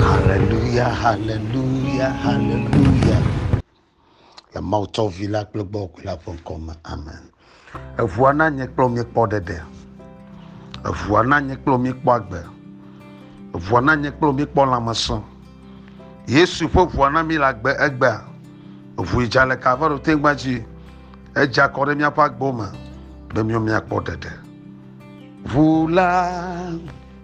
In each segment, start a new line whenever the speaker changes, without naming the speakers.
Haleluya, haleluya, haleluya. Le Mawu tsɔ vi la kple gbɔ ku la ƒe ŋkɔ me. Amen. Eŋua na nye kple mi kpɔ ɖeɖe. Eŋua na nye kple mi kpɔ agbe. Eŋua na nye kple mi kpɔ lãmesẽ. Yesu ƒe ŋua na mi le agbe egbea. Eŋu dza le Kalvaro tegba dzi. Edza kɔ ɖe míaƒe agbo me be míawo míakpɔ ɖeɖe. Ŋu la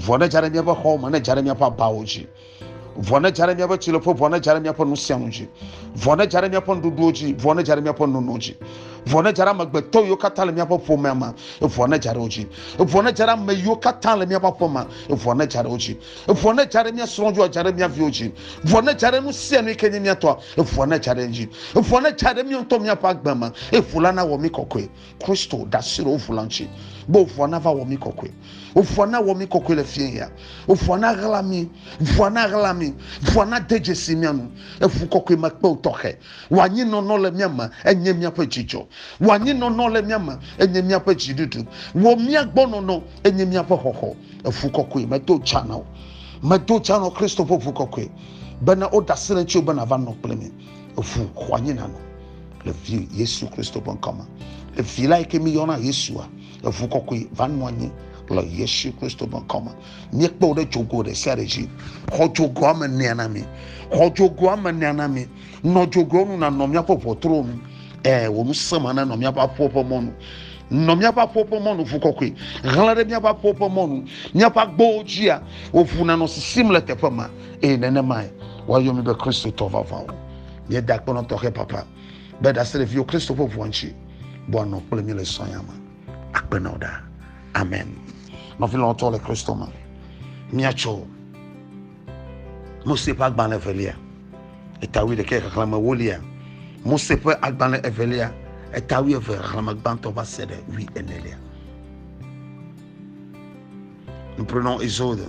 vɔ ne dza ɖe míaƒe xɔwo me ne dza ɖe míaƒe abawo dzi vɔ ne dza ɖe míaƒe tsileƒe vɔ ne dza ɖe míaƒe nu sia nu dzi vɔ ne dza ɖe míaƒe nuɖuɖuwo dzi vɔ ne dza ɖe míaƒe nono dzi vɔ ne dza ɖe amegbetɔ yiwo katã le míaƒe ƒomea me vɔ ne dza ɖe wo dzi vɔ ne dza ɖe ame yiwo katã le míaƒe aƒe me vɔ ne dza ɖe wo dzi vɔ ne dza ɖe mía srɔ̃ dzi dza ɖe mía viwo dzi vɔ ne dza ɖe nu sia nu yi ke nye mía tɔ vɔ ne dza ɖe dzi vɔ ne dza ɖe mía ŋutɔ míaƒe agbe me eƒu la nawɔ mí kɔkɔe Kristo ɖe asi ɖe wo ŋu la ŋuti, be ŋua nava wɔ mí kɔkɔe. Ŋua nawɔ mí kɔkɔe le fiẽ ya. Ŋua naɣla mí. Ŋua naɣla mí. Ŋua nade dzesi mía nu. Eŋu kɔkɔe me kpeo tɔxɛ. Wò anyinɔnɔ le mía me enye míaƒe dzidzɔ. Wò anyinɔnɔ le mía me enye míaƒe dziɖuɖu. Wò mía gbɔ nɔnɔ enye míaƒe xɔxɔ. Eŋu kɔkɔe medo dza na wò. Medo dza nɔ Kristo ƒe ŋu kɔkɔe bena woɖe asi ɖe ŋutiwò be nàva nɔ kple mí. eŋu xɔ anyi nanɔ le vi yesu kristo ƒe ŋkɔ me le vi la yi ke miyɔna yesua eŋu kɔkɔe va nɔ anyi le yesu kristo ƒe ŋkɔ me míekpe wo ɖe dzogo ɖe sia ɖe dzi xɔ dzogoa me nea na mi xɔ dzogoa me nea na mi nɔ dzogoa nu nanɔ míaƒe ʋɔtruwo nu ɛɛ wò nu sema nanɔ míaƒe aƒewo ƒe mɔnu nɔ míaƒe aƒewo ƒe mɔnu ʋu kɔkɔe hlẽ ɖe míaƒe aƒewo ƒe mɔnu míaƒe agbowo dzia wò ʋu nanɔ sisim le teƒe ma eye nenemae woayɔ mi be kristotɔ vavãwo míeda akpɔnɔ tɔxɛ papa be ɖaseɖeviwo kristo ƒe ʋua ŋuti bɔa nɔ kple mi le sɔnya me akpe na wo ɖa amen nɔvi lɔtɔ le kristo me míatsɔ mose ƒe agbalẽ evelia etawui ɖekɛ xexlẽme wolia mose ƒe agbalẽ evelia etawui eve xexlẽme gbãtɔ va se ɖe wui enelia Nous prenons Exode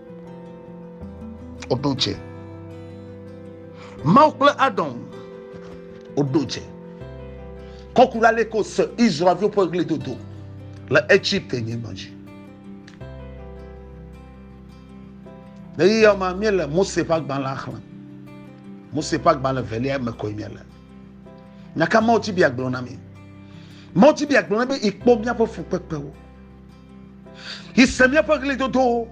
Woɖo dze. Mawu kple Adɔn woɖo dze. Kɔku la le ko se Israelviwo ƒe ɣlidodo le Egypte nyigba dzi. Le yeyɔ ma míele Mose ƒe agbalẽa xlẽm. Mose ƒe agbalẽ velia me koe míele. Nyaka mawutibia gblɔ na mi. Mawutibia gblɔ na be ikpɔ míaƒe fukpekpewo. yi se míaƒe ɣlidodowo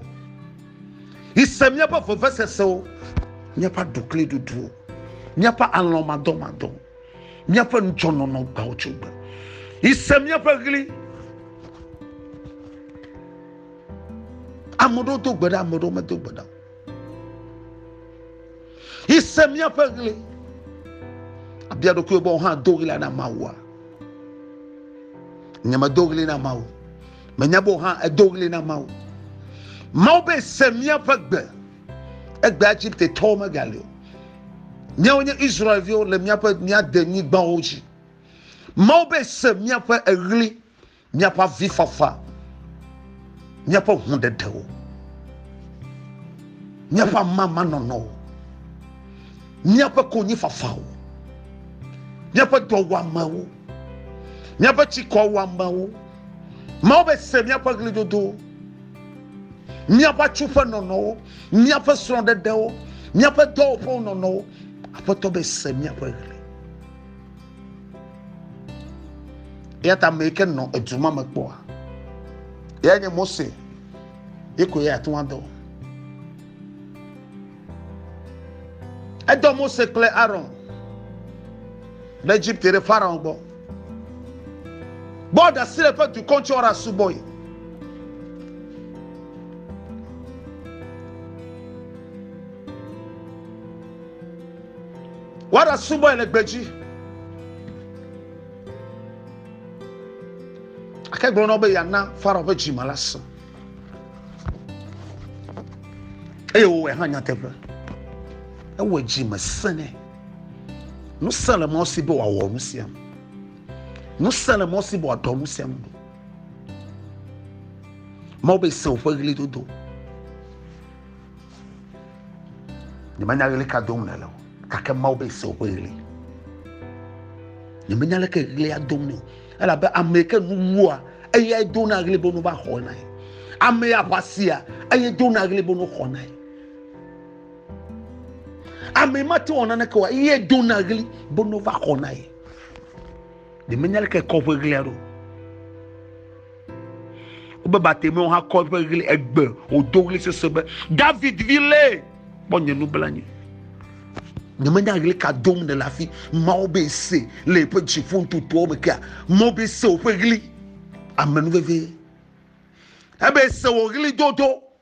yi se míaƒe vevesesewo míaƒe aɖukliɖuɖuwo míaƒe alɔmadɔmadɔ míaƒe nudzɔnɔnɔ gbawo tso gbe yi se míaƒe ɣli ame ɖewo do gbe ɖa ame ɖewo medo gbe ɖa Ese míaƒe ɣli. Abia ɖokuiwò be wohã do ɣli na Mawua. Nye medo ɣli na Mawu. Menya be wohã edo ɣli na Mawu. Mawu be se míaƒe gbe. Egbe Egipte tɔwo megali o. Míawo nye Israelviwo le míaƒe míade nyigbawo dzi. Mawu be se míaƒe eɣli. Míaƒe avifafa, míaƒe ŋuɖeɖewo, míaƒe amamanɔnɔwo, míaƒe konyifafawo, míaƒe dɔwuamewo, míaƒe tsikɔwuamewo. Mawu be se míaƒe ɣlidodowo, míaƒe atsuƒe nɔnɔwo, míaƒe srɔ̃ɖeɖewo, míaƒe dɔwɔƒewo nɔnɔwo. Aƒetɔ be se míaƒe ɣli. eya ta ame yi ke nɔ edu ma me kpɔa ya nye mose ye ko ya ate ŋu adɔ edɔ mose kple aron ɖe egypte ɖe farao gbɔ bɔ ɖasi le ƒe dukɔ ŋuti ɔra subɔe Woaɖasubɔe le gbedzi. Ake gblɔ na wo be yeana Farao ƒe dzime la sẽ. Eye wòwɔe hã nyateƒe. Ewɔe dzime sẽ nɛ. Nu sẽ le mɔ si be wòawɔ nu sia me. Nu sẽ le mɔ si be wòaɖɔ nu sia me. Mawu be sẽ woƒe ɣlidodo. Nyemenya ɣli ka dom nèle o, gake Mawu be se woƒe ɣli. Nyemenya leke ɣlia dom nɛ o, elabe ame yi ke nu wua, eyae dona ɣli be nu va xɔnae. Ame ya ƒe asia, eye dona ɣli be nu xɔnae. Ame mate wɔ naneke o, eye dona ɣli be nu va xɔnae. ɖe menya leke kɔ ƒe ɣlia ɖo wobe batemewo hã kɔ ƒe ɣli egbe wòdo ɣli sese be david vi lé kpɔ nye nublanyi nye menya ɣli ka dom ne le afi mawo be se le eƒe dziƒo ntutuawo me kea mawo be se woƒe ɣli amenuveve ebe se wò ɣli dodo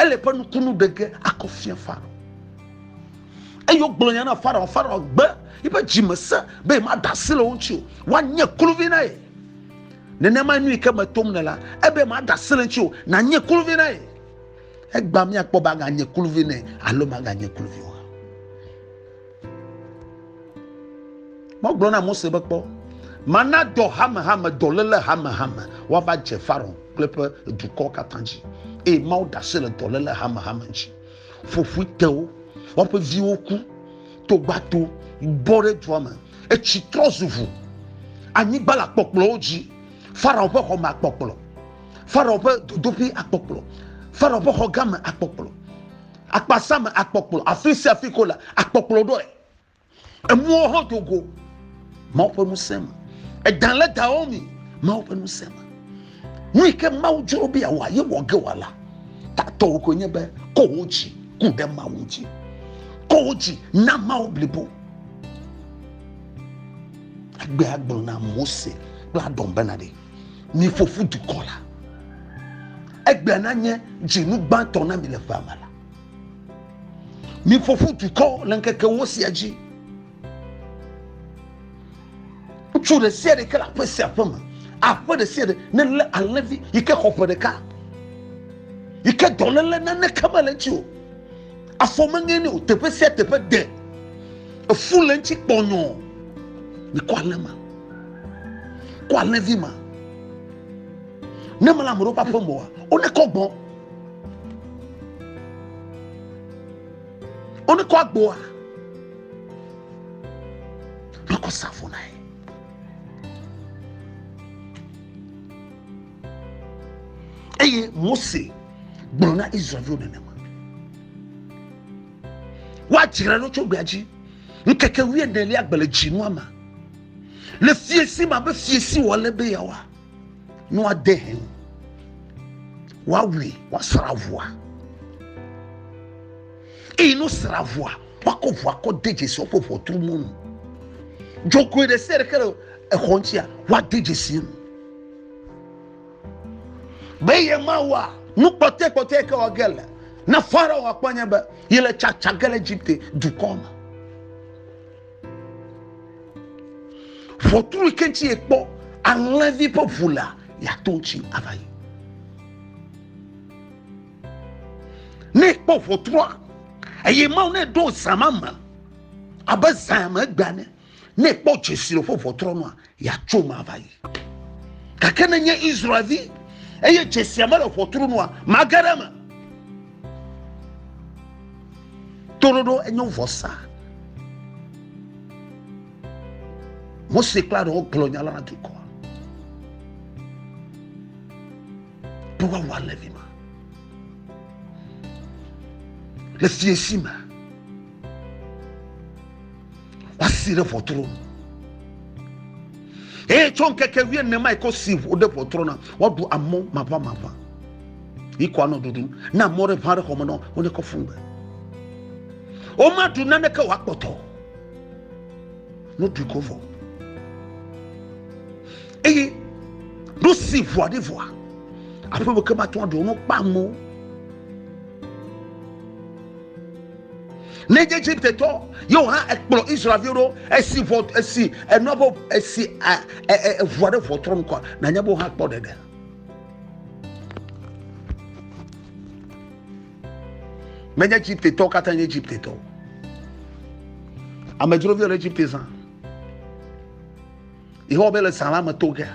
Ele ƒe nukunu ɖe ge akɔ fia Farao. Eye wogblɔ nya na Farao. Farao gbe yiƒe dzi me se be yemaɖe asi le wo ŋuti o. Woanye kluvi na ye. Nenema nu yi ke me tom ne la, ebe maɖe asi le ŋuti o. Nanye kluvi na ye. Egba míakpɔ be aganye kluvi nɛ alo maganye kluvi o. Megblɔ na Mose be kpɔ, mana dɔ hamehame, dɔléle hamehame woava dze Farao kple eƒe dukɔ katã dzi, eye Mawu da asi le dɔléle hamehame dzi. Ƒoƒoe te wo, woƒe viwo ku, togbato bɔ ɖe dua me, etsi trɔ zu ʋu, anyigba le akpɔkplɔwo dzi, Farao ƒe xɔ me akpɔkplɔ, Farao ƒe dodoƒe akpɔkplɔ, Farao ƒe xɔ gã me akpɔkplɔ. Akpasa me akpɔkplɔ, afi sia afi ko la, akpɔkplɔ ɖɔe. Emuwo hã do go, Mawu ƒe ŋusẽ me. Edan le dawɔ mi, Mawu ƒe ŋusẽ me. Nu yi ke Mawu dzro be yeawɔ ye wɔ ge wɔ la, tatɔwo koe nye be kɔ wo dzi ku ɖe Mawu dzi. Kɔ wo dzi na Mawu blibo. Agbe agblɔ na Mose kple Aɖɔn bena ɖe. mi fofo dukɔ la egbea na nye dzinu gbãtɔ na mi le ƒea me la mi fofo dukɔ le ŋkeke wo sia dzi ŋutsu ɖe sia ɖe ke le aƒe sia aƒe me aƒe ɖe sia ɖe ne le alẽvi yi ke xɔ ƒe ɖeka yi ke dɔléle naneke mele dzi o Afɔ meŋe ni o, teƒe sia teƒe de. Efu le ŋuti kpɔnyɔ. Mikɔ alẽ ma. Kɔ alẽvi ma. Ne mele ame ɖewo ƒe aƒe me oa, wonekɔ gbɔ. Wonekɔ agboa. Makɔ safo na ye. eye mose gblɔ na israelviwo nenema woadzra ɖo tso gbea dzi ŋkeke wuienelia gbe le dzinua me le fiesi ma be fiesi wòale be yeawa ne woade he ŋu woawui woasra ʋua eye no sra ʋua woakɔ ʋua kɔ de dzesi woƒe ʋɔtru mɔnu dzɔgoe ɖe sia ɖe ke le exɔ ŋutia woade dzesi enu be ye mawɔa nu kpɔtɔe kpɔtɔe ke wɔ ge le na farao akpɔ nye be yi le tsatsa ge le egypte dukɔ me ʋɔtru ke ŋuti yekpɔ alẽvi ƒe ʋu lea yeato ŋuti ava yi ne ekpɔ ʋɔtrua eye mawu ne ɖo zã ma me abe zã me gbea ne ne ekpɔ dzesi le ƒe ʋɔtrɔ nua Yatsom ava yi. Gake ne nye Israelvi eye dzesia mele ʋɔtru nua, mage ɖe eme. Toɖoɖo enye vɔsa. Mose kple Aron gblɔ nya la na dukɔa. Be woawɔ alẽ vi ma. Le fiesi me. woasi ɖe ʋɔtru eye tso ŋkeke wie ne ma yi ko si ʋu ɖe ʋɔtru na woaɖu amɔ maʋã maʋã yi ko anɔ ɖuɖu na amɔ ɖe ʋã ɖe xɔme nɔ wo ne kɔ fún gbe woma ɖu nane ke wòa kpɔtɔ no ɖui ko vɔ eye no si ʋua ɖe vɔa aƒe me ke ma tún aɖu no kpa amɔ. Ne nye Egiptetɔ yewo hã ekplɔ Israelviwo ɖo esi vɔ esi enua bɔ esi eʋua ɖe ʋɔ trɔ nukua na nye bɔ hã kpɔ ɖeɖe. Me nye Egiptetɔ katã nye Egiptetɔ. Amedzro viwo le Egipte zã. Yehowa be le zã la me to ge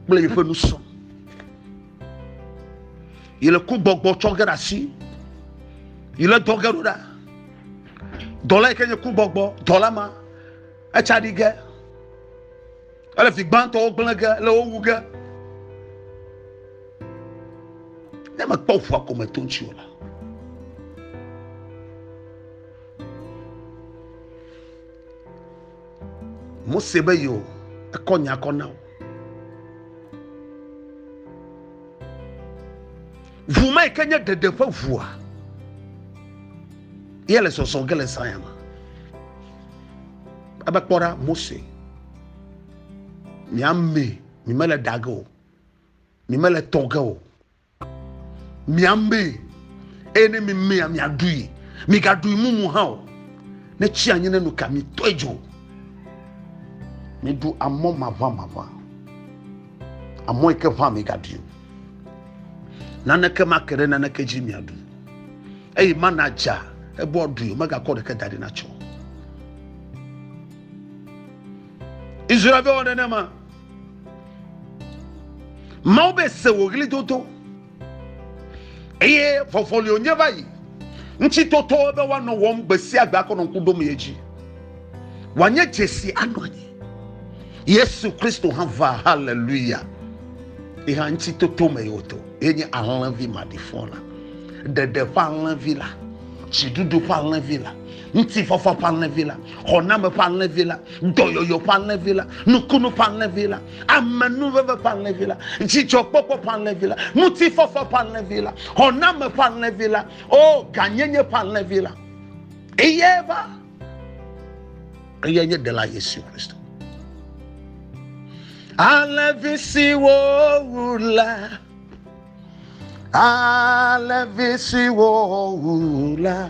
kple yeƒe nusɔ. yi le ku gbɔgbɔ tsɔ ge ɖe asi yi le dɔ ge ɖo ɖa dɔla yi ke nye ku gbɔgbɔ dɔla ma etsa ɖi ge ele fi gbãtɔwo gblẽ ge le wo wu ge ne mekpɔ ʋua ko me to ŋuti o la Mose be yo, ekɔ nya kɔ na wo. Ŋu ma yi ke nye ɖeɖe ƒe ŋua ye le zɔzɔ ge le zaya me. Ebe kpɔ ɖa Mose, mi ame, mi mele ɖage o, mi mele tɔ ge o. miamee eye ne mimea miaɖui migaɖui mumu hã o ne tsi anyi ne nu ka mitɔe dzo miɖu amɔ maʋamaʋã amɔ yi ke ʋã migaɖui o naneke make ɖe naneke dzi miaɖu eye mana dza ebe woaɖui o megakɔ ɖeke da ɖi natsɔ israelviwo nenema mawo be se wò ɣli dodo eye vɔvɔli wònye va yi ŋuti totɔ be woanɔ wɔm gbe sia gbe akɔ nɔ ŋku ɖom ye dzi wòanye dzesi anɔ anyi yesu kristo hã va haleluya ye hã ŋuti toto me yewo to ye nye alẽvi maɖifɔ la ɖeɖe ƒe alẽvi la dziɖuɖu ƒe alẽvi la ŋutifafa ƒe alẽvi la xɔname ƒe alẽvi la dɔyɔyɔ ƒe alẽvi la nukunu ƒe alẽvi la amenuveve ƒe alẽvi la dzidzɔkpɔkpɔ ƒe alẽvi la ŋutifafa ƒe alẽvi la xɔname ƒe alẽvi la o ganyenye ƒe alẽvi la eye va eye nye ɖela yesu kristo alẽvi siwo wu la alẽvi siwo wu la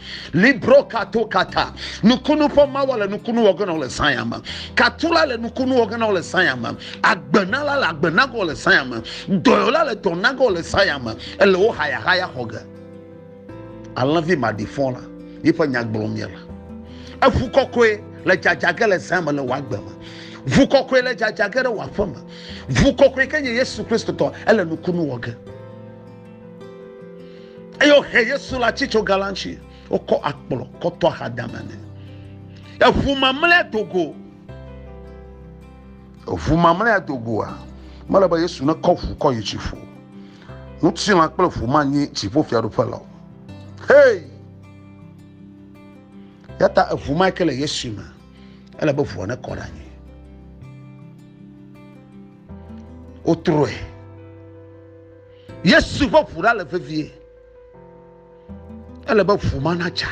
Libro kato kata. Nukunu ƒe mawa le nukunu wɔ gena le zãya me. Katula le nukunu wɔ gena le zãya me. Agbenala le agbenagɔ le zãya me. Dɔyɔla le dɔnagɔ le zãya me. Ele wo hayahaya xɔ ge. Alẽvi maɖifɔ la yi ƒe nya gblɔm ye la. Eŋu kɔkɔe le dzadzage le zã me le wòa gbe me. Ŋu kɔkɔe le dzadzage ɖe wòa ƒe me. Ŋu kɔkɔe ke nye Yesu Kristo tɔ. Ele nukunu wɔ ge. eye wohe Yesu le atsi tso galantsi wokɔ akplɔ kɔtɔ axadame nɛ eʋu mamlɛa dogo eʋu mamlɛa dogoa mele be Yesu nekɔ ʋu kɔ yi dziƒo ŋutilã kple ʋu manyi dziƒo fiaɖuƒe la o hei yata eʋu ma ke le Yesu me ele be ʋua nekɔ ɖe anyi wotrɔe Yesu ƒe ʋu la le vevie. Ele be ʋu ma natsa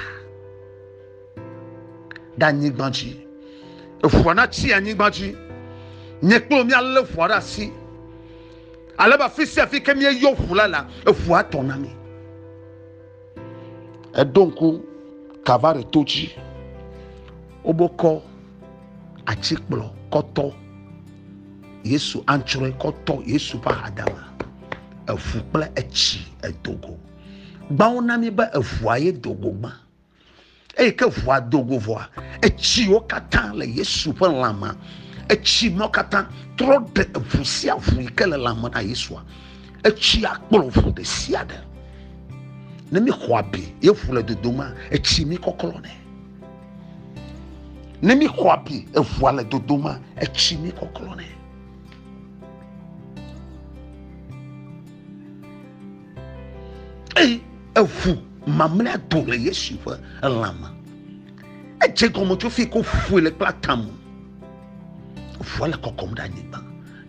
ɖe anyigba dzi. Eʋua natsi anyigba dzi. Nye kple míalé ʋua ɖe asi. Ale be afi sia afi ke míeyɔ ʋu la la, eʋua tɔ na mí. Eɖo ŋku Kalvari to dzi. Wobokɔ atikplɔ kɔtɔ. yesu antsrɔe kɔ tɔ yesu ƒe ahadame eʋu kple etsi edogo gbãwo na mi be eʋua ye dogo gbã eye ke ʋua dogo vɔa etsiwo katã le yesu ƒe lãme etsi mawo katã trɔ ɖe eʋu sia ʋu yi ke le lãme na yesua etsia kplɔ ʋu ɖe sia ɖe ne mi xɔ abi ye ʋu le dodoma etsi mi kɔklɔ nɛ ne mi xɔ abi eʋua le dodo ma etsi mi kɔklɔ nɛ eye eʋu mamlea do le yesu ƒe elã me edze gɔme tso fi ko ƒoe le kple atamu eʋua le kɔkɔm ɖe anyigba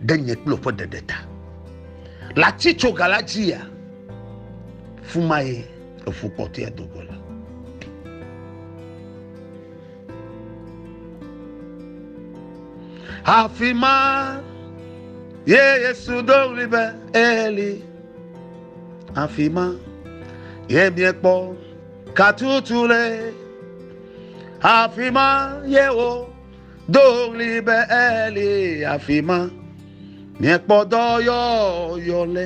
ɖe nye kple ƒe ɖeɖe ta le atitsoga la dzia fumaye Eƒu kpɔtɔea do go la. Afi ma ye Yesu do ɣli be Eli. Afi ma ye miekpɔ katutu le. Afi ma ye wo do ɣli be Eli. Afi ma miekpɔ dɔyɔyɔ le.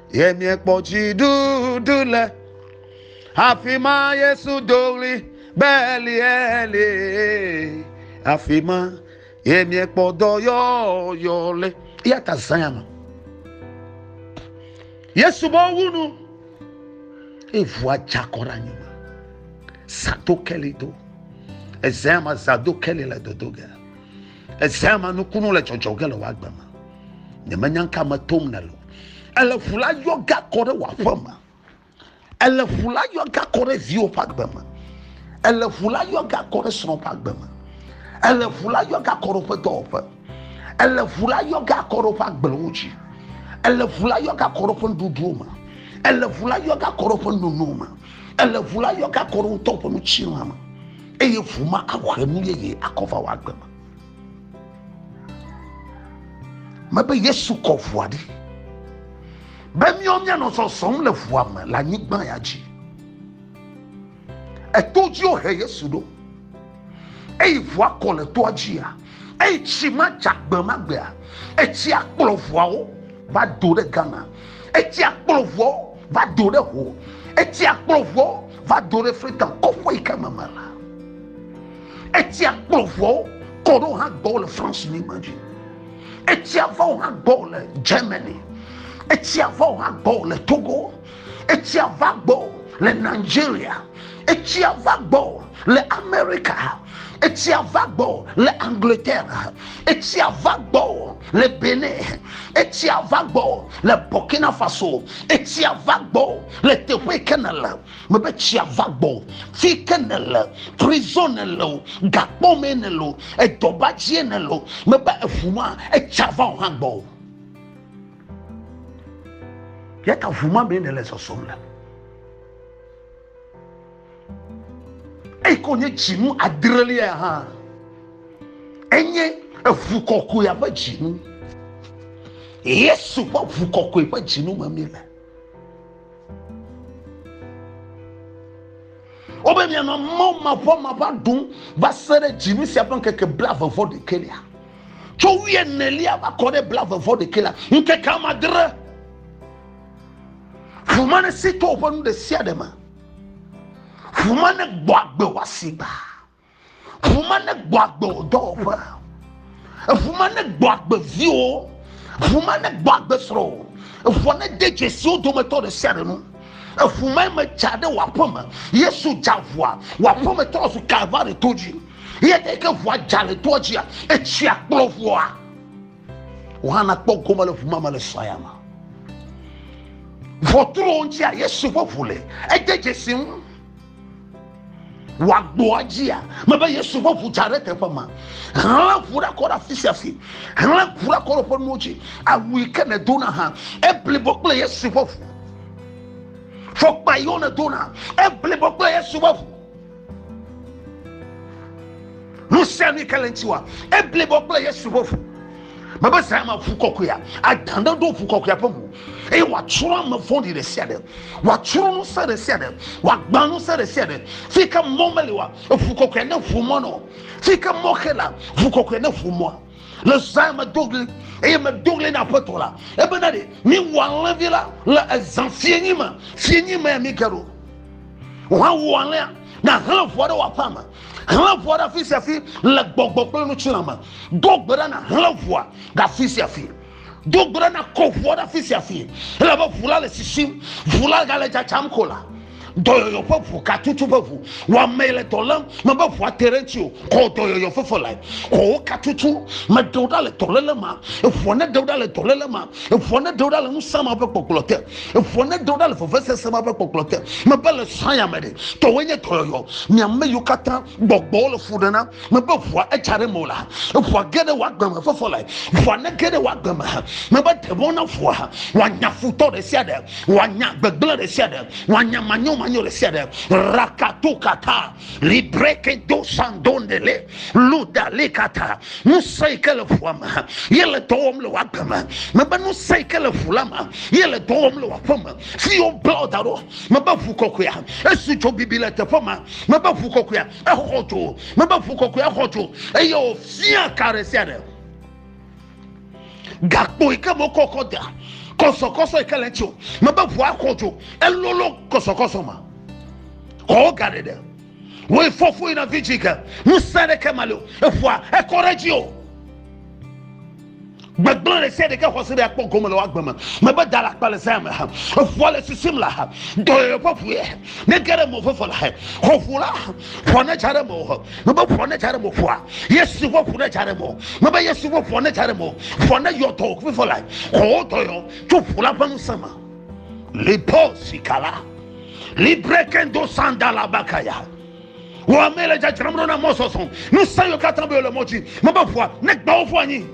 Ye miekpɔ dziɖuɖu le afi ma Yesu do ɣli be Eli Eli afi ma ye miekpɔ dɔyɔyɔ le eya ta zãya ma Yesu bɔ wu nu evua dzakɔ ɖe anyigba zato keli do ezãya ma zado keli le dodo ge. Ezea ma nukunu le dzɔdzɔ ge le wò agbe me. Nyemenya ŋka me tom nèle o. Ele ƒu la yɔ ga kɔ ɖe wò aƒe me. Ele ƒu la yɔ ga kɔ ɖe viwò ƒe agbe me. Ele ƒu la yɔ ga kɔ ɖe srɔ̃ ƒe agbe me. Ele ƒu la yɔ ga kɔ ɖe woƒe dɔwɔƒe. Ele ƒu la yɔ ga kɔ ɖe woƒe agblewo dzi. Ele ƒu la yɔ ga kɔ ɖe woƒe nuɖuɖuwo me. Ele ƒu la yɔ ga kɔ ɖe woƒe nonowo me. Ele ƒu la yɔ ga kɔ ɖe wotɔ ƒe nutsirã me. eye ŋu ma ahe nu yeye akɔ va wò agbe me. Mebe Yesu kɔ ŋua ɖi be míawo míanɔ zɔzɔm le ŋua me le anyigba ya dzi. Eto dzi wohe Yesu ɖo eye ŋua kɔ le toa dzia Eye tsi ma dza gbe ma gbea, etsia kplɔ ʋuawo va do ɖe Ghana. Etsia kplɔ ʋuawo va do ɖe ho. Etsia kplɔ ʋuawo va do ɖe Freetown, kɔƒe yi ke me mele. Etsia kplɔ ʋuawo kɔ ɖo hã gbɔ le France nyigba dzi. Etsia va wo hã gbɔ le Germany. Etsia va wo hã gbɔ le Togo. etsia va gbɔ le nigeria etsia va gbɔ le amerika etsia va gbɔ le angleterre etsia va gbɔ le benin etsia va gbɔ le burkina faso etsia va gbɔ le teƒe ke ne le mebe tsia va gbɔ fi ke ne le prison ne le o gakpɔ me ne le o edɔbadzie ne le o mebe eʋu ma etsia va o hã gbɔ o yata ʋu ma mee nèle zɔzɔm le eyi ke wònye dzinu adrelia hã enye eʋu kɔkɔea ƒe dzinu yesu ƒe ʋu kɔkɔe ƒe dzinu me mi le Wobe mianɔ mɔ mavɔ mava ɖum va se ɖe dzinu sia ƒe ŋkeke blave vɔ ɖekɛ lia. Tso wuie nelia va kɔ ɖe blave vɔ ɖekɛ la, ŋkeke amadre. Ʋuma ne si to woƒe nu ɖe sia ɖe me. Ʋuma ne gbɔ agbe wɔ asigba. Ŋu ma ne gbɔ agbe wò dɔwɔƒe. Eŋu ma ne gbɔ agbe viwo. Ŋu ma ne gbɔ agbe srɔ̃ wò. Eŋua ne de dzesiwo dometɔ ɖe sia ɖe nu. Eŋu ma me dza ɖe wò aƒe me. Yesu dza ŋua. Wò aƒe me trɔ zu Kalvari to dzi. Eya ta ke ŋua dza le toa dzia, etsia kplɔ ŋua. Wò hã nakpɔ gome le ŋu ma me le srɔ̃ ya me. Ŋɔtruwo ŋutia, Yesu ƒe ŋu le. Ede dzesi ŋu. wòagboa dzia mebe yesu ƒe ʋu dza ɖe teƒe ma hlẽ ʋu ɖe kɔ ɖe afi sia fi hlẽ ʋu ɖe kɔ ɖe ƒe nuwo dzi awu yi ke nèdona hã eblibo kple yesu ƒe ʋu fɔkpa yiwo nèdona eblibo kple yesu ƒe ʋu nu sia nu yi ke le ŋutiwa eblibo kple yesu ƒe ʋu mebe zã ma ʋu kɔkɔea adã ɖe ɖo ʋu kɔkɔea ƒe ŋu eye wòatsrɔ̃ ame vɔ̃ɖi ɖe sia ɖe wòatsrɔ̃ ŋusẽ ɖe sia ɖe wòagbã ŋusẽ ɖe sia ɖe fi ke mɔ meli wa eʋu kɔkɔea ne ʋu mɔ nɔ fi ke mɔ xe la ʋu kɔkɔea ne ʋu mɔa le zã medo ɣli eye medo ɣli na aƒetɔ la ebe na ɖe miwɔ alẽvi la le ezã fienyi me fienyi me mi ke ɖo wòawu alẽa na hlẽ ʋua ɖe wòaƒe ame hlẽ ʋua ɖe afi sia afi le gbɔgbɔ kple nutsila me do gbe ɖa na hlẽ ʋua ɖe afi sia afi do gbe ɖa na kɔ ʋua ɖe afi sia afi ele be ʋu la le sisim ʋu la gale tsatsam ko la dɔyɔyɔ ƒe ʋu katutu ƒe ʋu wɔame le dɔ lém mebe ʋua te ɖe ŋuti o kɔ dɔyɔyɔ fefe lae kɔwo katutu meɖe wo ɖa le dɔléle ma eʋua ne ɖe wo ɖa le dɔléle ma eʋua ne ɖe wo ɖa le ŋusẽ ma ƒe gbɔgblɔ te Eŋua nedo ɖa le vevesese ma ƒe kpɔkplɔ te. Mebe le saya me ɖe, tɔwoe nye dɔyɔyɔ. Mi ame yiwo katã gbɔgbɔwo le fu ɖe na, mebe ŋua etsa ɖe mewò la, eŋua ge ɖe wò agbe me ƒe fɔlae. Ŋua nege ɖe wò agbe me, mebe ɖe mɔ na ŋua wòanya futɔ ɖe sia ɖe, wòanya gbegblẽ ɖe sia ɖe, wòanya manyomanyo ɖe sia ɖe. Rakatokata. libreke do sandondele luda lekata ŋusẽ yi ke le ƒua me ye le dɔ wɔm le w'agbe me mebe ŋusẽ yi ke le ƒu la me ye le dɔ wɔm le w'aƒe me fi yi woble wo da ɖo mebe ʋu kɔkɔea esu dzo bibi le teƒe ma mebe ʋu kɔkɔea exɔ dzo mebe ʋu kɔkɔea exɔ dzo eye wòfia ka ɖe sia ɖe gakpo yi ke me wokɔ kɔ dea kɔsɔkɔsɔ yi ke le eŋuti o mebe ʋua xɔ dzo elolo kɔsɔkɔsɔ ma xɔwo ga ɖeɖe woe fɔfo yina vidzi ke ŋusẽ ɖeke ma le o eƒua ekɔ ɖe dzi o gbegblẽ ɖe sia ɖeke xɔse ɖe akpɔ gome le woagbe me mebe da le akpa le zã me ha eƒua le sisim la ha dɔyɔyɔ ƒe ƒue ne ge ɖe mɔ veve la ha xɔƒu la ƒua ne dza ɖe me o mebe ʋɔ ne dza ɖe mo ƒua yesu ƒe ʋu ne dza ɖe mo mebe yesu ƒe ʋɔ ne dza ɖe mo ʋɔ ne yɔ dɔ fifɔ la kɔwo dɔyɔ tso ʋu la ƒe ŋusẽ me lipo sikala librekendo sandala bakaya wɔ ame le dzadzram ɖo na mɔ sɔsɔ ŋusẽ yɔ katã be le mɔ dzi mebe ʋua ne gbawo ƒu anyi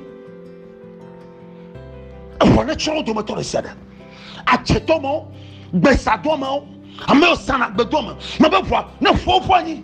eʋɔ ne tsɔ wo dometɔ ɖe sia ɖe adzetɔ mawo gbesadɔ mawo ame yɔ sana gbedɔ me mebe ʋua ne ƒuwo ƒu anyi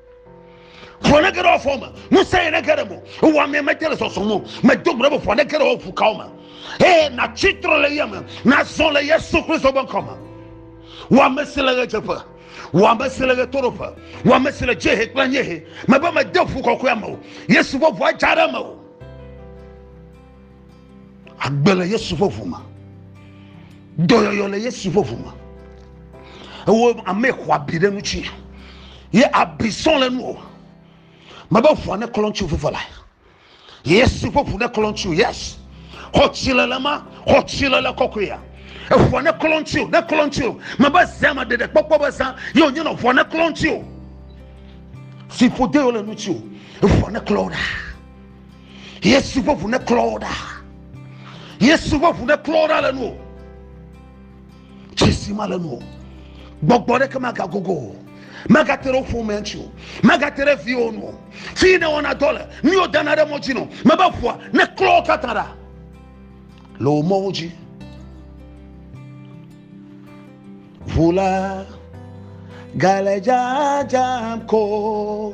ʋu aɖeke ɖe afɔ me ŋusẽ aɖeke ɖe mo ewɔ amea mete le sɔsɔm o medo gbe be ʋu aɖeke ɖe woƒu kawo me eye natsi trɔ le yame nazɔ le yesu kristu ƒe ŋkɔ me wɔ ame si le ɣedzeƒe wɔ ame si le ɣetoɖoƒe wɔ ame si le dziehe kple anyiehe mebe mede ʋu kɔkɔea me o yesu ƒe ʋua dza ɖe me o Agbe le Yesu ƒe ʋu me. Dɔyɔyɔ le Yesu ƒe ʋu me. Ewo ame xɔ abi ɖe ŋuti. Ye abi sɔ le nuwò. Mebe ʋua ne klɔ ŋutsu veve la. Yesu ƒe ʋu ne klɔ ŋutsu. Yes. Xɔ tsi le le ma. Xɔ tsi le le kɔkɔe ya. Eʋua ne klɔ ŋutsu. Ne klɔ ŋutsu. Mebe zã me ɖeɖe kpɔkpɔ be zã. Ye wònye nɔ ʋua ne klɔ ŋutsu. Fiƒode le ŋutsu. Eʋua ne klɔ ɖa. yesu ƒe ʋu ne klɔ wo ɖa yesu ƒe ʋu ne klɔ wo ɖa le nu o tsesi ma le nu o gbɔgbɔ ɖeke magagogo o magate ɖe ƒomea ŋuti o magate ɖe viwo nu o fi ne wɔna dɔ le nu yiwo dana ɖe mɔ dzi nɔ mebe ʋua ne klɔ wo katã ɖa le wò mɔwo dzi ʋu la gale dzadzam ko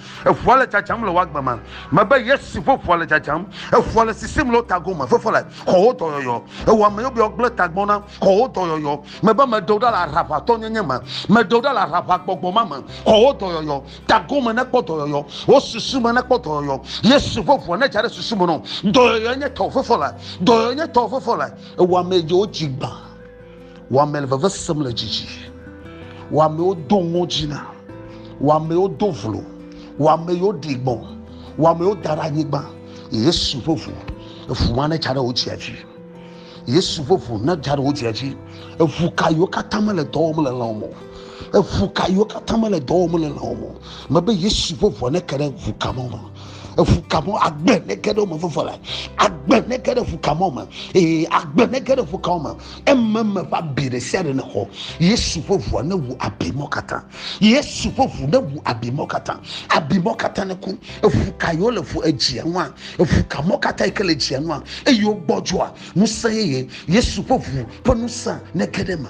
Eŋua le dzadzam le woagbe ma. Mebe Yesu ƒe ŋua le dzadzam. Eŋua le sisim le wo tago me. Fefo le xɔwo dɔyɔyɔ. Ewɔ ame yɔ be yeagblẽ tagbɔ na xɔwo dɔyɔyɔ. Mebe meɖe wo ɖa le aɖaʋatɔnyenye me. Meɖe wo ɖa le aɖaʋagbɔgbɔ ma me. Xɔwo dɔyɔyɔ. Tago me nekpɔ dɔyɔyɔ. Wo susu me nekpɔ dɔyɔyɔ. Yesu ƒe ŋua nedza ɖe susu me na wo. Dɔyɔyɔe nye tɔwò. Fefo le. Dɔyɔyɔe nye tɔwò. Fefo le. Ewɔ ame yɔ wo dzi gbã. Wɔame le veve sem le dzidzi. Wɔamewo do ŋɔdzi na. Wɔamewo do vlo. Wɔame yiwo ɖi gbɔ. Wɔamewo da ɖe anyigba. Yesu ƒe ʋu. Eʋu ma ne dza ɖe wo dzia dzi. Yesu ƒe ʋu ne dza ɖe wo dzia dzi. Eʋu ka yiwo katã mele dɔ wɔm le lãwo me. Eʋu ka yiwo katã mele dɔ wɔm le lãwo me. Mebe Yesu ƒe ʋua ne ke ɖe ʋu ka ma me. eŋu ka mɔ agbe ne ge ɖe wo me veve le agbe ne ge ɖe eŋu ka mɔ me ee agbe ne ge ɖe eŋu ka me eme me ƒe abi ɖe sia ɖe ne xɔ yesu ƒe ŋua ne wu abi mɔ katã yesu ƒe ŋu ne wu abi mɔ katã abi mɔ katã ne ku eŋu ka yi wo le ŋu edzia ŋua eŋu ka mɔ katã yi ke le edzia ŋua eye wo gbɔdzɔa ŋusẽ yeye yesu ƒe ŋu ƒe ŋusẽ ne ge ɖe me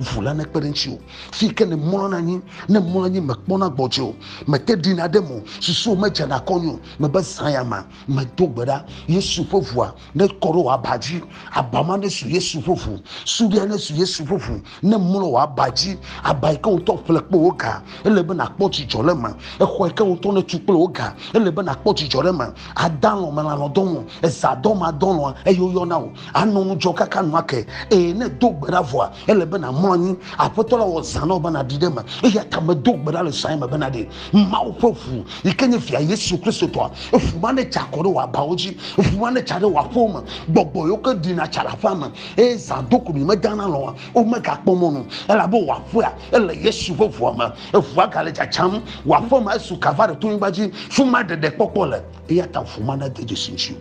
ʋu la nekpe ɖe ŋuti o fi ke ne mlɔna anyi ne mlɔ anyi mekpɔna gbɔdzɔe o mete ɖina ɖe mo susuwo medzana kɔnyo o mebe zã ya ma medo gbe ɖa yesu ƒe ʋua nekɔ ɖe wò aba dzi aba ma nesu yesu ƒe ʋu suɖia nesu yesu ƒe ʋu ne mlɔ wò aba dzi aba yi ke wotɔ ƒle kple wò ga ele be nakpɔ dzidzɔ ɖe me exɔ yi ke wotɔ netu kple wò ga ele be nakpɔ dzidzɔ ɖe me adalɔ melanɔ dɔlɔ ezadɔ ma dɔlɔ eye woyɔna wò Ànɔ ŋudzɔ kaka nu ake, eye ne èdo gbe ɖa vɔa, ele be nàmlɔ anyi. Aƒetɔ la wɔ zã na wò be nàɖi ɖe eme, eya ta medo gbe ɖa le zãe me be nàɖi. Mawu ƒe ʋu, yi ke nye Via Yesu Kristo tɔa, ʋu ma netsa akɔ ɖe wò abawo dzi, ʋu ma netsa ɖe wò aƒewo me, gbɔgbɔ yiwo ke ɖina tsa le aƒea me, eye zã doku mi medana lɔ̃ oa, womegakpɔ mɔ nu, elabe wò aƒea ele Yesu ƒe ʋua me. Ʋua gale tsatsam, wò aƒe ma esu Kalvary tonyigba dzi, fi mae ɖeɖekpɔkpɔ le, eya ta ʋu ma nade dzesi ŋutiwò.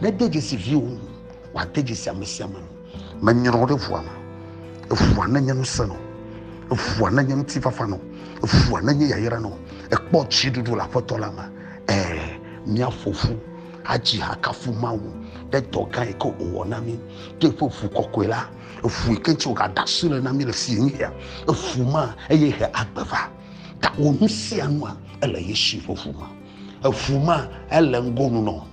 Nede dzesi viwò ŋu, wòade dzesi amesiame ŋu. Menyrɔ ɖe ʋua me. Eʋua nenye ŋusẽ nɔ. Eʋua nenye ŋutifafa nɔ. Eʋua nenye yayra nɔ. Ekpɔ tsiɖuɖu le Aƒetɔ la me. Ẽ, míaƒo ƒu adzi ha akafu Mawu ɖe dɔ gã yi ke wòwɔ na mí, ɖe eƒe ʋu kɔkɔe la, eʋu yi ke ŋuti wògada asi le na mí le fiẽnuya, eʋu ma, eye he agbe va. Gawɔ nu sia nua, ele Yesu ƒe ʋu me. Eʋu ma, ele ŋgonu nɔ.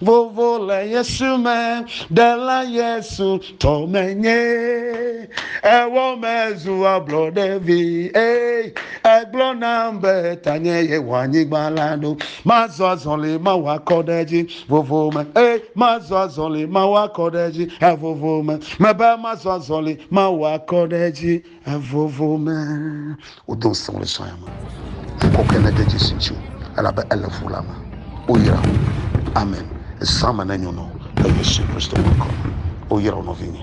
Vovo le Yesu me, ɖela Yesu tɔ menye. Ewɔ mezu ablɔɖevi, ei, egblɔ nam be tanye yewɔ anyigba la ɖo. Mazɔ azɔli mawɔ akɔ ɖe edzi, vovo me, ei, mazɔ azɔli mawɔ akɔ ɖe edzi, evovo me, mebe mazɔ azɔli mawɔ akɔ ɖe edzi. Evovo me wodo ŋusẽ wo le sɔ ya me. Ŋkɔkɔe ne de Jesu ŋuti o, elabe ele fu la me. Woyra wo. Amen. Zã me ne nyɔ nɔ le Yesu Kristo ƒe ŋkɔ me. Woyra wo nɔvinye.